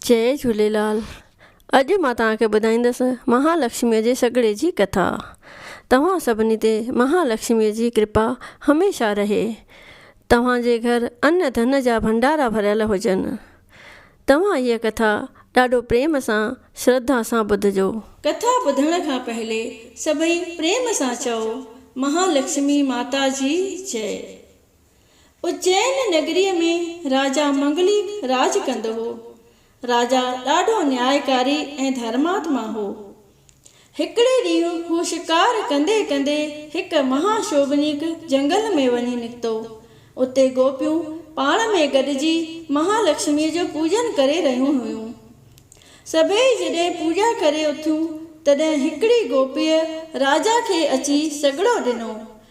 جئي جهوليلال اڄ مان توهان کي ٻڌائيندس مها لڪشمي جي سڳڙي جي ڪٿا توهان سڀني تي مها لڪشمي جي ڪرپا هميشه رهي توهان جي گهر ان ڌن جا ڀنڊارا ڀريل هجن توهان هيء ڪٿا ڏاڍو پريم سان شرڌا سان ٻڌجو. ڪٿا ٻڌڻ کان پهلي سڀئي پريم سان چئو مها لڪشمي ماتا جي جئي. اجين نگريء ۾ راجا منگليڪ راڄ ڪندو هو. راجا ڏاڍو نيائڪاري ۽ ڌرماتما هو. هڪڙي ڏينهن هو شڪار ڪندي ڪندي هڪ مها شوڀنيڪ جنگل ۾ وڃي نڪتو. اتي گوپيون پاڻ ۾ گڏجي مها لڪشميء جو پوڄن ڪري رهيون هيون. سڀيئي جڏهن پوڄا ڪري اٿيون تڏهن هڪڙي گوپيء راجا کي اچي سڳڙو ڏنو.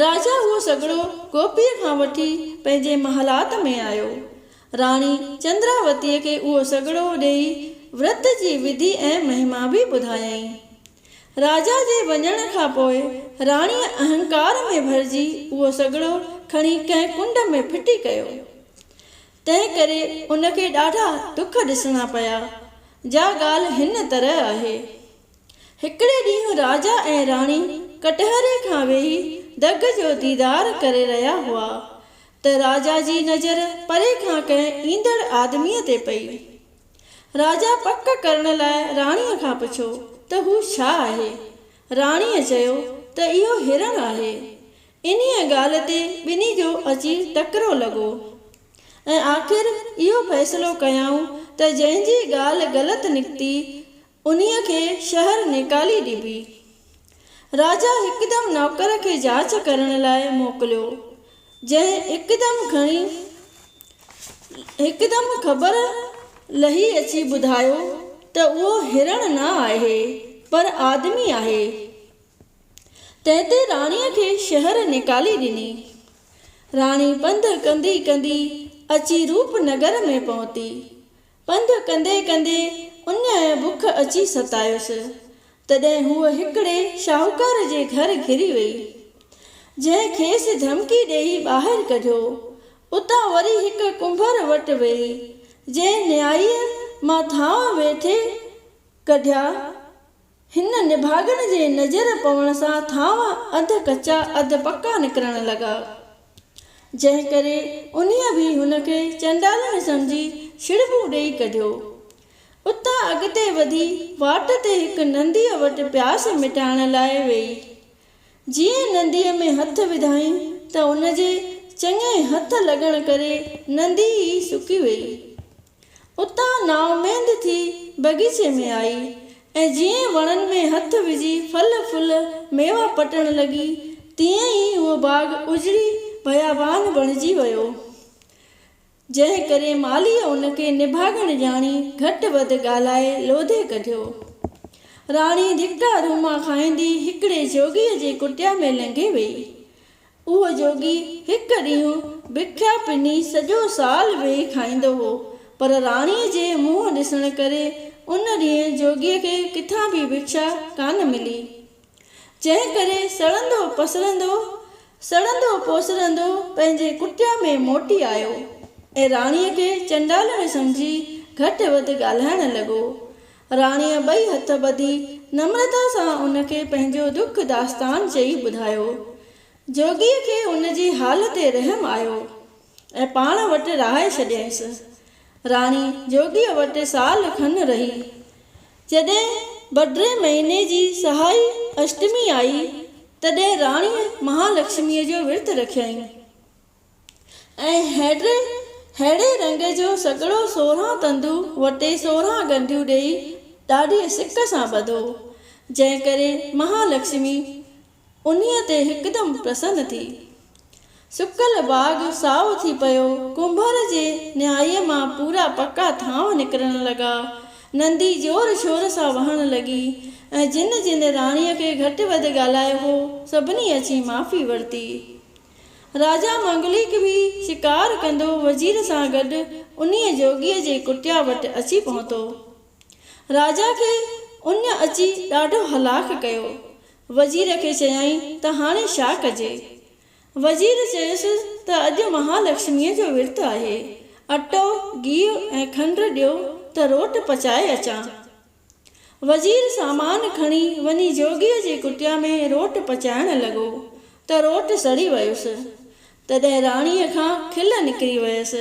راجا اهو سگهڙو گوپيء کان وٺي پنهنجي محلات ۾ آيو. راڻي چندراوتيء کي اهو سگهڙو ڏيئي ورت جي وڌي ۽ مهما به ٻڌايائين. راجا جي وڃڻ کان پوء راڻيء اهنڪار ۾ ڀرجي اهو سگهڙو کڻي ڪنهن ڪنڊ ۾ ڦٽي ڪيو. تنهن ڪري ان کي ڏاڍا ڏک ڏسڻا پيا. جا ڳالهه هن طرح آهي. هڪڙي ڏينهن راجا ۽ راڻي ڪٽهري کان ويهي ڊگهه جو ديدار ڪري رهيا هئا ته راجا جي نظر پري کان ڪنهن ايندڙ آدميء تي پئي. راجا پڪ ڪرڻ لاء راڻيء کان پڇيو ته هو ڇا آهي؟ راڻيء چيو ته اهو هرڻ آهي. انهيء ڳالهه تي ٻنهي جو اچي ٽڪرو لڳو ۽ آخر اهو فيصلو ڪيائون ته جنهن جي ڳالهه غلط نڪتي انهيء کي شهر نيڪالي ڏبي. راجا هڪدم نوڪر کي جاچ ڪرڻ لاء موڪليو، جنهن هڪدم کڻي هڪدم خبر لهي اچي ٻڌايو ته اهو هرڻ نه آهي، پر آدمي آهي. تنهن تي راڻيء کي شهر نيڪالي ڏني. راڻي پنڌ ڪندي ڪندي اچي روپ نگر ۾ پهتي. پنڌ ڪندي ڪندي اڃاء بک اچي ستايس، تڏهن هوء هڪڙي شاهوڪار جي گهر گهري ويئي، جنهن کيس ڌمڪي ڏيئي ٻاهر ڪڍيو. اتان وري هڪ ڪنڀر وٽ ويئي، جنهن نيائيء مان ٿانء ويٺي ڪڍيا. هن نڀاڳن جي نظر پوڻ سان ٿانو اڌ ڪچا اڌ پڪا نڪرڻ لڳا، جنهن ڪري انهيء به هن کي چنڊالڻي سمجهي ڇڙٻو ڏيئي ڪڍيو. اتان اڳتي وڌي واٽ تي هڪ ننديء وٽ پياس مٽائڻ لاء ويئي. جيئن ننديء ۾ هٿ وڌائين ته ان جي چڱي هٿ لڳڻ ڪري نندي ئي سڪي ويئي. اتان نااميد ٿي بغيچي ۾ آئي ۽ جيئن وڻن ۾ هٿ وجهي ڦل ڦل ميوا پٽڻ لڳي تيئن ئي اهو باغ اجڙي بيابان بڻجي ويو جنهن ڪري مالهيء ان کي نڀاڳڻ ڄاڻي گهٽ وڌ ڳالهائي لوڌي ڪڍيو. راڻي ڌڪا روما کائيندي هڪڙي جوڳيء جي ڪٽيا ۾ لنگهي ويئي. اهو جوڳي هڪ ڏينهن بکيا پني سڄو سال ويهي کائيندو هو، پر راڻيء جي منهن ڏسڻ ڪري ان ڏينهن جوڳيء کي ڪٿان به بکيا ڪانه ملي، جنهن ڪري سڙندو پسرندو، سڙندو پوسرندو پنهنجي ڪٽيا ۾ موٽي آيو ۽ راڻيء کي چنڊالڻي سمجهي گهٽ وڌ ڳالهائڻ لڳو. راڻيء ٻئي هٿ ٻڌي نمرتا سان ان کي پنهنجو دک داستان چئي ٻڌايو. جوڳيء کي ان جي حال تي رحم آيو ۽ پاڻ وٽ رهائي ڇڏيائينس. راڻي جوڳيء وٽ سال کن رهي. جڏهن بڊري مهيني جي سهائي اشٽمي آئي، تڏهن راڻيء مهالڪشميء جو ورت رکيائين. ۽ هيڊي رنگ جو سڳڙو سورهن تندو وٽي سورهن ڳنڍيون ڏيئي ڏاڍيء سڪ سان ٻڌو، جنهن ڪري مها لڪشمي انهيء تي هڪدم پرسن ٿي. سڪل باغ سائو ٿي پيو، ڪنڀر جي نهائيء مان پورا پڪا ٿانو نڪرڻ لڳا، نندي زور شور سان وهڻ لڳي، ۽ جن جن راڻيء کي گهٽ وڌ ڳالهايو هو، سڀني اچي معافي ورتي. راجا منگليڪ به شڪار ڪندو وزير سان گڏ انهيء جوڳيء جي ڪٽيا وٽ اچي پهتو. راجا کي ان اچي ڏاڍو هلاڪ ڪيو. وزير کي چيائين ته هاڻي ڇا ڪجي؟ وزير چيس ته اڄ مهالڪشميء جو ورت آهي. اٽو، گيهه ۽ کنڊ ڏيو ته روٽ پچائي اچان. وزير سامان کڻي وڃي جوڳيء جي ڪٽيا ۾ روٽ پچائڻ لڳو ته روٽ سڙي ويس. تڏهن راڻيء کان کل نڪري ويس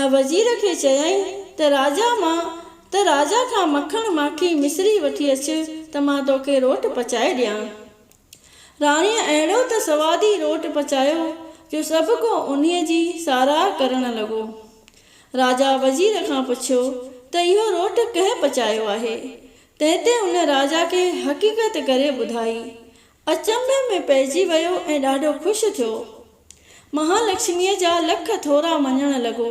۽ وزير کي چيائين ته راجا مان ته راجا کان مکڻ ماکي مصري وٺي اچ ته مان توکي روٽ پچائي ڏيان. راڻيء اهڙو ته سوادي روٽ پچايو جو سڀ ڪو انهيء جي ساراهه ڪرڻ لڳو. راجا وزير کان پڇيو ته اهو روٽ ڪنهن پچايو آهي؟ تنهن تي ان راجا کي حقيقت ڪري ٻڌائي. اچنڀي ۾ پئجي ويو ۽ ڏاڍو خوش ٿيو. مهالڪشميء جا لک ٿورا مڃڻ لڳو.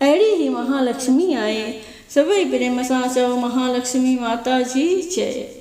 اهڙي هي مهالڪشمي آهي. سڀئي پريم سان چئو مهالڪشمي ماتا جي جئي.